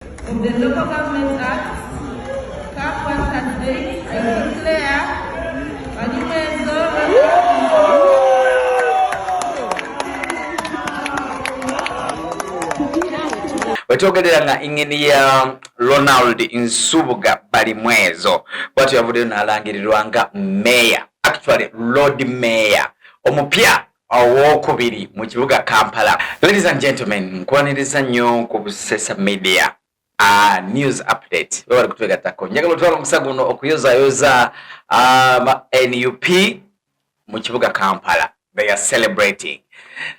With the Local Government Act, CAF was candidate, I declare wetwogerera nga ingini ya ronald nsubuga balimwezo bwatyo yavuddeyo nalangirirwa nga meya actually lord meya omupya owokubiri mu kibuga Kampala. Ladies and gentlemen, nkwaniriza nnyo ku Busesa Media uh, news update webali kutwegattako njagala otwala omusa guno okuyozayoza um, nup mu kibuga kampala they are celebrating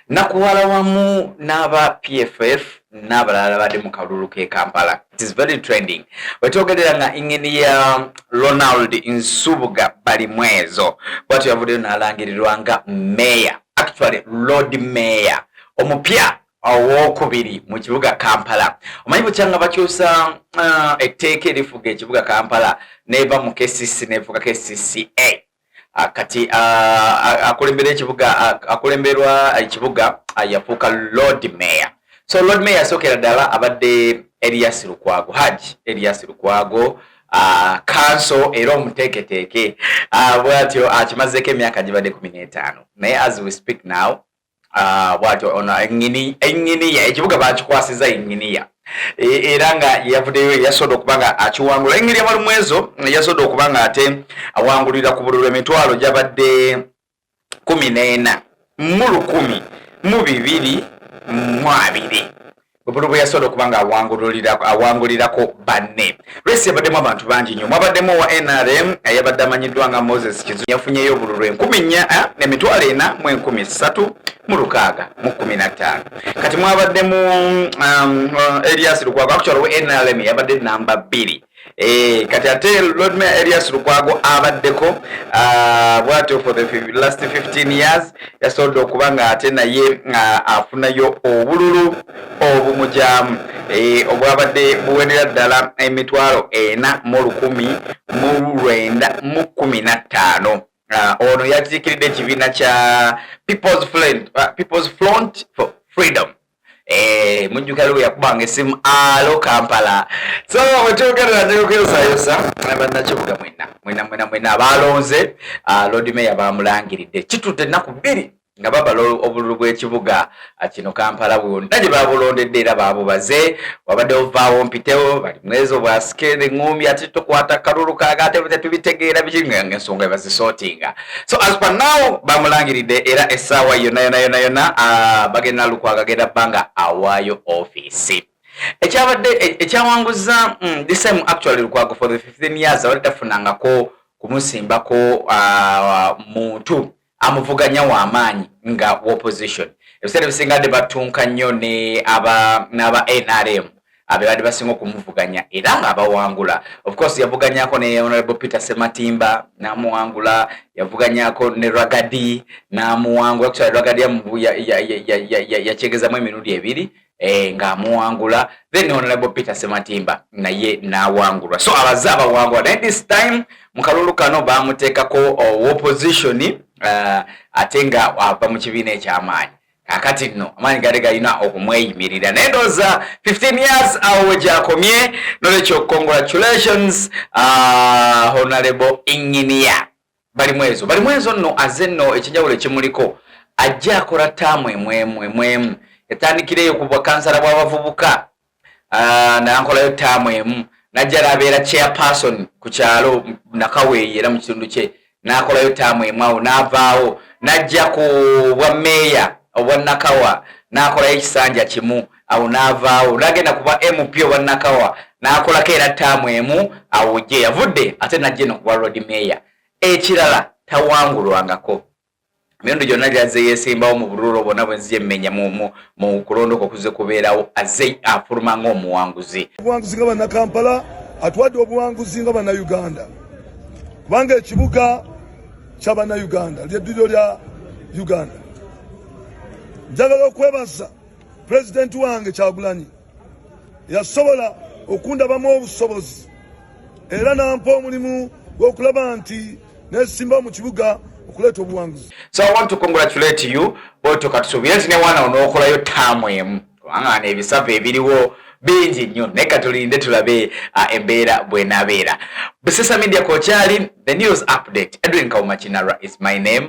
nakuwala wamu n'aba pff n'abalala badde mu kalulu k'e kampala it is very trending wetwogerera nga ingini ya ronald nsubuga balimwezo bwatyo yavuddeyo n'alangirirwa nga meeya actually lord meeya omupya owokubiri mu kibuga kampala omanyi bukyanga bakyusa uh, etteeka erifuga ekibuga kampala neva mu kcc nefuga kcca Ah, kati ah, ah, akulembera ekibuga akulemberwa ekibuga yafuuka lord mayor so lord mayor asookera ddala abadde elias lukwago haj elias lukwago kanso era omuteeketeeke bwatyo akimazeeko emyaka gibadde kumi n'etaano naye as we speak now Ah, bwatyo ono enginiya ekibuga bakikwasiza enginiya e, era nga yeyavuddeyo yasoda okuba nga akiwangula enginiya balumwezo yasoda okuba nga ate awangulira ku bululu emitwalo gyabadde kumi n'ena mu lukumi mu bibiri mu abiri bubulu bwe yasobola okuba nga awangulirako banne resi yabaddemu abantu bangi nnyo mwabaddemu owa nrm eyabadde amanyiddwa nga moses kizu yafunyeyo obululu enkumi nnya eh, nemitwalo ena mu enkumi ssatu mu lukaaga mu kumi na ttaano kati mwabaddemu um, uh, elias lukwago akukyalo we nrm yabadde namba bbiri Eh, kati ate Lord Mayor Elias Lukwago abaddeko uh, bwatyo for the last 15 years yasobodde okuba nga ate naye uh, afunayo obululu obumujamu eh, obwabadde buwerera ddala emitwalo ena mu lukumi mu lwenda mu kumi na ttaano uh, ono yakiikiridde ekibiina kya people's front for freedom Eh, mujjukira lwe yakubanga essimu alo kampala so wetwogerera nyogezayosa bannakibuga mwena mwena mwena mwena abaalonze ah, lord mayor baamulangiridde kitudde ennaku bbiri nga babala obululu bw'ekibuga ah, kino kampala bwonna gye baabulondedde era baabubaze wabadde ovaawo mpitewo bali mwezo bwasike eŋŋumbi ati tukwata kalulu kaaga ate tetubitegeera biki nga ensonga ebazisootinga so as per now bamulangiridde era essaawa yona yona yona yona ah, bagenda lukwaga genda banga awaayo ofiisi ekyabadde e, ekyawanguza mm, this time actually lukwago for the 15 years abadde tafunangako kumusimbako ah, muntu amuvuganya wamaanyi nga opposition ebiseera ebisinga de batunka nnyo ne aba nrm abebadde basinga okumuvuganya era nga abawangula ofcourse yavuganyako ne honorable peter sematimba namuwangula yavuganyako ne ragadi namuwangula kukyala ragadi yakyegezamu emirundi ebiri eh, nga amuwangula then honorable peter sematimba naye nawangulwa so abaze abawangula naye this time mukalulu kano bamutekako oh, opposition uh, ate nga ava mu kibiina ekyamaanyi kakati nno amaanyi gade galina okumweyimirira naye ndowooza 15 years awo wegyakomye nolwekyo congratulations uh, honorable engineer balimu ezo balimu ezo nno aze nno ekinjawulo ekimuliko ajja akola taamu emwemu emwemu etandikira eyo ku bwakansala bw'abavubuka ah, nankolayo taamu emu najja nabeera chairperson ku kyalo nakaweeyi era mu kitundu kye nakolayo taamu emu awo navaawo najja ku bwa meeya obwa nakawa nakolayo ekisanja kimu awo navaawo nagenda kuba mp oba nakawa nakolako era taamu emu awo gye yavudde ate najja eno kuba road meeya ekirala tawangulwangako Mirundi gyonna gyazze yeesimbawo mu bululu obwo nabwe nzija emmenya mu kulonda okwo kuzze kubeerawo azze afuluma ng'omuwanguzi. Obuwanguzi nga Bannakampala atwadde obuwanguzi nga Bannayuganda kubanga ekibuga kya Bannayuganda ly'edduliro lya Uganda. Njagala okwebaza pulezidenti wange Kyagulanyi. yasobola okundabamu obusobozi era nampa omulimu gw'okulaba nti nesimba mu kibuga okuleeta obuwanguzi so i want to congratulate you otyo katusuubire nti newaana onookolayo taamu emu kubanga ano ebisava ebiriwo bingi nnyo naye katulinde tulabe uh, embeera bwenabeera busesa media kokyali the news update edwin kaumakinara is my name